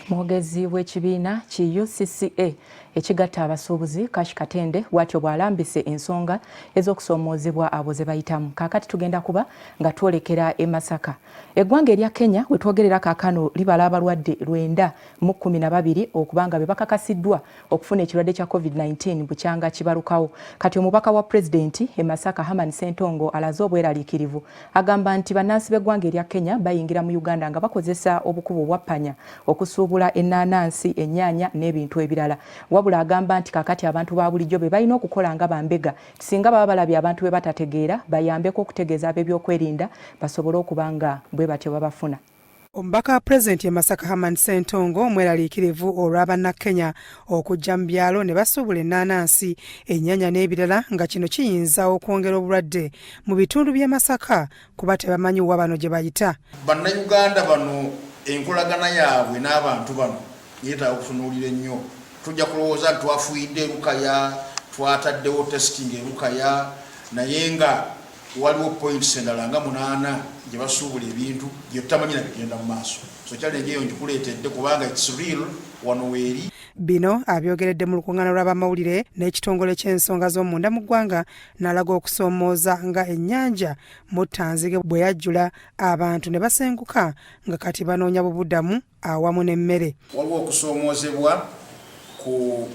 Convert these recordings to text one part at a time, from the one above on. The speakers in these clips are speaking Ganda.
Mwogezi w'ekibiina ki UCCA ekigatta abasuubuzi Kash Katende bwatyo bw'alambise ensonga ez'okusoomoozebwa abo ze bayitamu. Kaakati tugenda kuba nga twolekera e Masaka. Eggwanga erya Kenya we twogerera kaakano libala abalwadde lwenda mu kkumi na babiri okuba nga be bakakasiddwa okufuna ekirwadde kya covid-19 bukyanga kibalukawo kati omubaka wa pulezidenti e masaka haman sentongo alaze obweraliikirivu agamba nti bannansi b'eggwanga erya kenya bayingira mu uganda nga bakozesa obukubo obwappanya okusuubula ennaanansi ennyaanya n'ebintu ebirala wabula agamba nti kakati abantu ba bulijjo be balina okukola nga bambega singa baba balabye abantu be batategeera bayambeko okutegeeza ab'ebyokwerinda basobole okuba nga bwe batyo babafuna Omubaka wa pulezidenti e Masaka Herman Ssentongo mweraliikirivu olwa Bannakenya okujja mu byalo ne basuubula ennaanansi, ennyanya n'ebirala nga kino kiyinza okwongera obulwadde mu bitundu by'e Masaka kuba tebamanyi wa bano gye bayita. Bannayuganda bano enkolagana yaabwe n'abantu bano yeetaaga okutunuulira ennyo. Tujja kulowooza nti twafuyidde Lukaya, twataddewo testing e Lukaya naye nga Waliwo points endala nga munaana gye basuubula ebintu bye tutamanyi na bigenda mu maaso. So challenge eyo ngikuleetedde kubanga it's real wano weeri. Bino abyogeredde mu lukung'aana lw'abamawulire n'ekitongole ky'ensonga z'omunda mu ggwanga n'alaga okusoomooza nga ennyanja Muttanzige bwe yajjula abantu ne basenguka nga kati banoonya bubudamu. awamu n'emmere. Waliwo okusoomoozebwa ku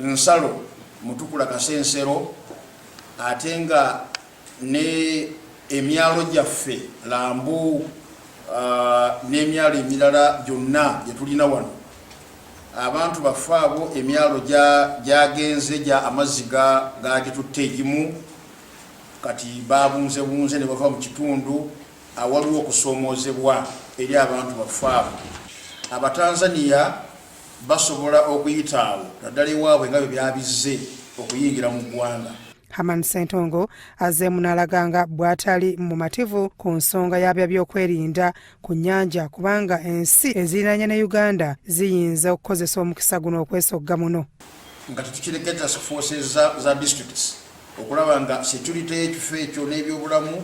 nsalo Mutukula Kasensero ate nga ne emyalo gyaffe Lambu n'emyalo emirala gyonna gye tulina wano abantu baffe abo emyalo gyagenze gya amazzi gagitutte egimu kati babunzebunze ne bava mu kitundu awaliwo okusoomoozebwa eri abantu baffe abo, Abatanzania basobola okuyita awo naddala ewaabwe nga bwe byabizze okuyingira mu ggwanga. Herman Ssentongo azzeemu n'alaga nga bw'atali mumativu ku nsonga ya byaby'okwerinda ku nnyanja kubanga ensi eziriraanye ne Uganda ziyinza okukozesa omukisa guno okwesogga muno. nga tetukireke task forces za districts okulaba nga security y'ekifo ekyo n'ebyobulamu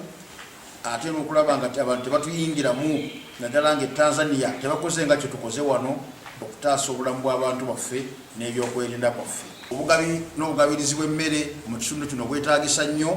ate n'okulaba nga abantu tebatuyingiramu naddala nga e Tanzania tebakoze nga kyetukoze wano okutaasa obulamu bw'abantu baffe n'ebyokwerinda kwaffe. Obugabi n'obugabirizi bw'emmere mu kitundu kino bwetaagisa nnyo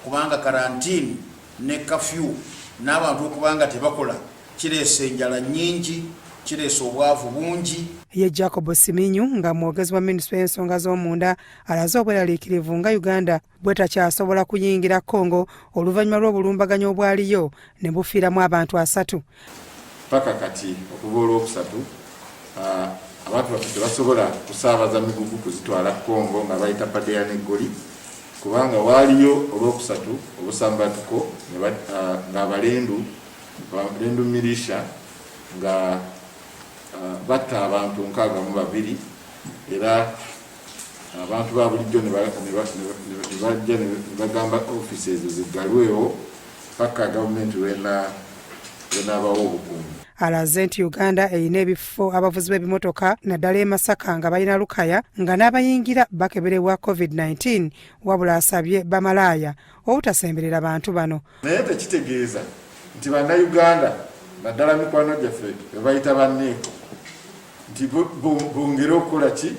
kubanga karantiini ne kafyu n'abantu okuba nga tebakola kireese enjala nnyingi, kireese obwavu bungi. Ye Jacob Siminyu nga mwogezi wa minisitule y'ensonga z'omunda alaze obweraliikirivu nga Uganda bwetakyasobola kuyingira Congo oluvannyuma lw'obulumbaganyi obwaliyo ne bufiiramu abantu asatu. Paka kati okuva olwokusatu ah, abantu baffe tebasobola kusaabaza migugu kuzitwala Congo nga bayita Padeya ne Goli kubanga waaliyo olwokusatu obusambatuko ah, ng'abalendu abalendu milisha nga ah, batta abantu nkaaga mu babiri era abantu ba bulijjo ne bajja ne bagamba ofiisi ezo ziggalwewo paka gavumenti lwenaabawo obukuumi alaze nti uganda erina ebifo abavuzi b'ebimotoka naddala e masaka nga balina lukaya nga n'abayingira bakeberebwa covid-19 wabula asabye bamalaaya obutasemberera bantu bano naye tekitegeeza nti bannayuganda naddala mikwano gyaffe ebayita banneeko nti bongere okukola ki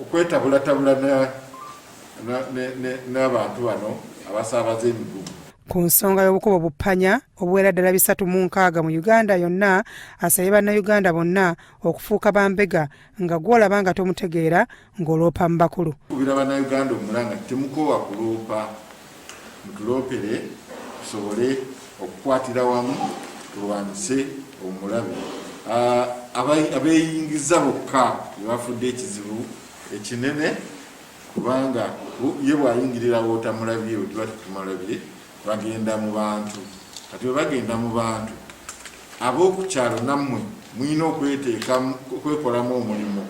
okwetabulatabula n'abantu bano abasaabaza emigugu ku nsonga y'obukuba obuppanya obuwera ddala bisatu mu nkaaga mu uganda yonna asabye bannayuganda bonna okufuuka bambega nga gwolaba nga tomutegeera ng'oloopa mu bakulu kubira bannayuganda omulanga temukoowa kuloopa mutuloopere tusobole okukwatira wamu tulwanyise omulabe ah, abeeyingiza bokka bebafudde ekizibu ekinene kubanga ye bwayingirira wootamulabye otiba tetumulabye bagenda mu bantu kati bwe bagenda mu bantu ab'oku kyalo nammwe mulina okweteeka okwekolamu omulimu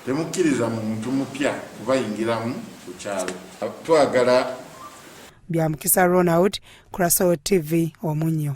temukkiriza muntu mupya kubayingiramu ku kyalo twagala bya mukisa ronald kurasawo tv omunyo